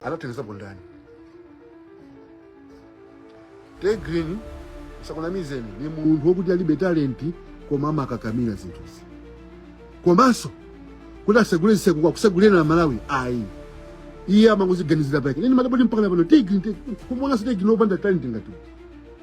anatengeza bondani Tay Grin asakunamizeni ni munthu wokuti alibe talenti koma amakakamira zinthuzi komanso kuti asegule ziseko kusegulira amalawi ayi iye amangoziganizira pake nini madaboti mpaka na pano Tay Grin te- kumuonanso Tay Grin opanda talenti ngati uyu.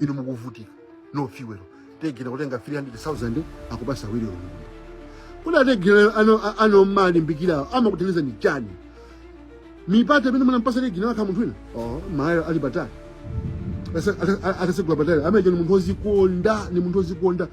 inu mukuvutika no fuel Tay Grin kutenga 300000 akupasa Awilo Longomba kuti a Tay Grin ano a- ano mmalimbikira amakuthandiza ndi chani mipata imene munampasa Tay Grin akanakhala munthu wina oh Malawi ali patali Asa- ata- atasegula patali ameneyo ni munthu ozikonda ni munthu ozikonda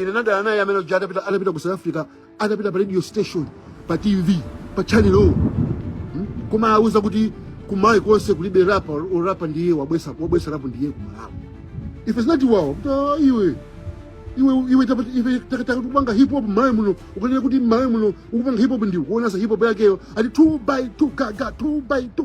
ine nadana naye amene uja atapita atapita ku south africa atapita pa radio station pa tv pa channel o kumawauza kuti kumalawi konse kulibe rapa orapa ndiye wabwesa wabwesa rapu ndiye kumalawi if it's not wow ta iwe iwe iwe tapa- iwe takataka kupanga hip hop mMalawi muno ukanena kuti mMalawi muno ukupanga hip hop ndi kuonanso hip hop yakeyo ati 2 by 2 gaga 2 by 2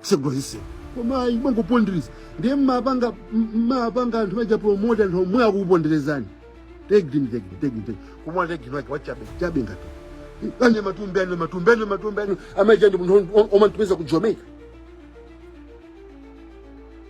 segula ziseko koma iye amangopondereza ndiye mmapanga mmapanga anthu aja promote anthu omwe akukuponderezani Tay Grin Tay Grin Tay Grin Tay Grin koma Tay Grin wake wachabe chabe ngati Annie Matumbi Annie Matumbi Annie Matumbi amene uja ndi munthu omamutumiza ku Jamaica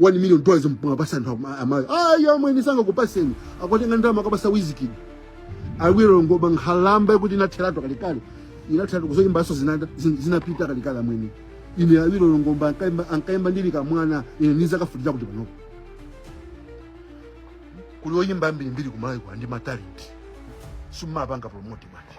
1 million dollars mwapasa anthu ama- aMalawi ayi amwene sangakupaseni akwatenga ndalama akapasa Wizkid Awilo Longomba nkhalamba yakuti inatheratu kalekale inatheratu kuzoyimbaso zinada- zin- zinapita kalekale amwene ine Awilo Longomba ankaimba- ankaimba ndili kamwana ine nizakafundira kuti panopo kuli oyimba ambirimbiri kumalawi kwa ndi matalenti sumapanga promote bwana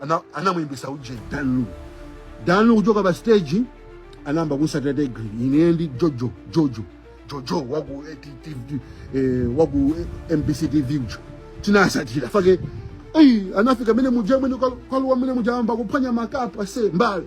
ana- anamuyimbisa uje danlu danlu kuchoka pa stage anayamba kusatira tegri ine ndi jojo jojo jojo waku eh, T- T- T- eh, waku eh, mbc tv uja tinasatira fake eyi anafika mene muja mwene kwaluwa mene muja amba kuphwanya makapu ase mbali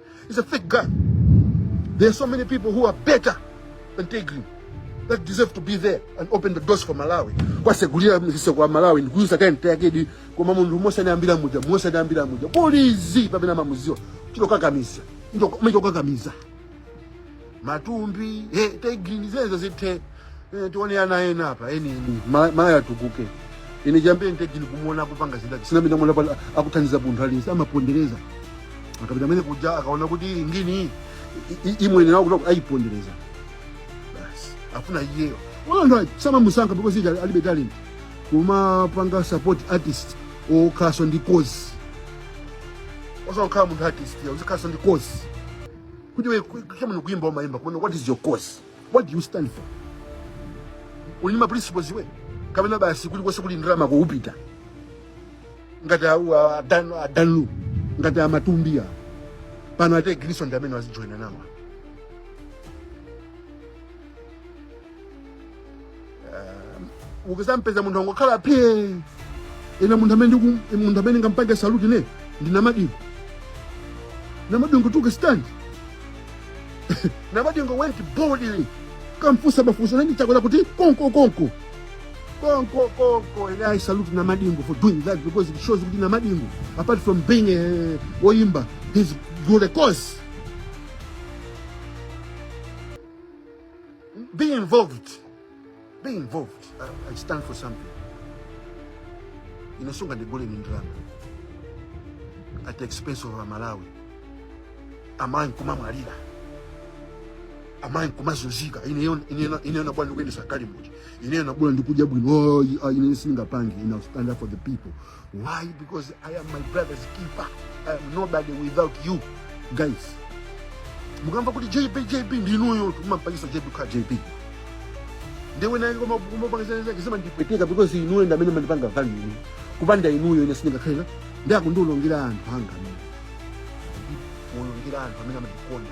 He's a fake guy. There are so many people who are better than Tay Grin that deserve to be there and open the doors for Malawi. Kuwasegulira ziseko aMalawi ndikuuza kae mtayakedi koma munthu mose anayambira muja mose anayambira muja polizi pamene amamuziwa chitokakamiza chitokakamiza matumbi he Tay Grin zimenezo zithe Eh, tione ana ena apa eni eni Ma- Malawi atukuke ine chiyambireni Tay Grin kumuona kupanga zidati sinapita mwana pala akuthandiza munthu aliyense amapondereza akapita kumene kuja akaona kuti ili ngini i- i- imwene nawo kuti ayipondereza basi afuna iyeyo wala samamusankha because uja alibe talent kumapanga support artist okhalanso ndi cause osakhala munthu artist ya uzikhalanso ndi cause kuti iwe ku- chabwino kuimba umaimba komano what is your cause what do you stand for uli ndi maprinciples iwe kapena basi kulikonse kuli ndalama ukupita ngati au- a- adanu adanu ngati a Matumbi pano a Tay Grinso ndi amene wazijoyina nawo ukuzampeza munthu angokhala phe ine munthu amene ndingampange salute ine ndi namadingo namadingo took a stand namadingo went boldly kamfusa mafunso nani chakwera kuti konko konko konko konko and I salute namadingo for doing that because it shows kuti namadingo apart from being a oyimba he's got a cause Be involved. Be involved. I, I stand for something. Ine sungandigule ndi ndalama. At the expense of Amalawi. Amayi kumamwalira. Amayi kumazunzika. Ine nabwana ndikuyendetsa galimoto. Ine nabwana ndikudya bwino. Oh, ah, ine sindingapange. Ine stand up for the people. Why? Because I am my brother's keeper. I am nobody without you guys. Mukamba kuti JB JB ndinuyo mumampangitsa JB kukhala JB. Ndiwe naye koma kumapangitsa zake zima ndipeteka because inuyo ndi amene mandipanga value. Kupanda inuyo ine sindingakhale ndakulongera anthu anga. Kulongera anthu amene amandikonda.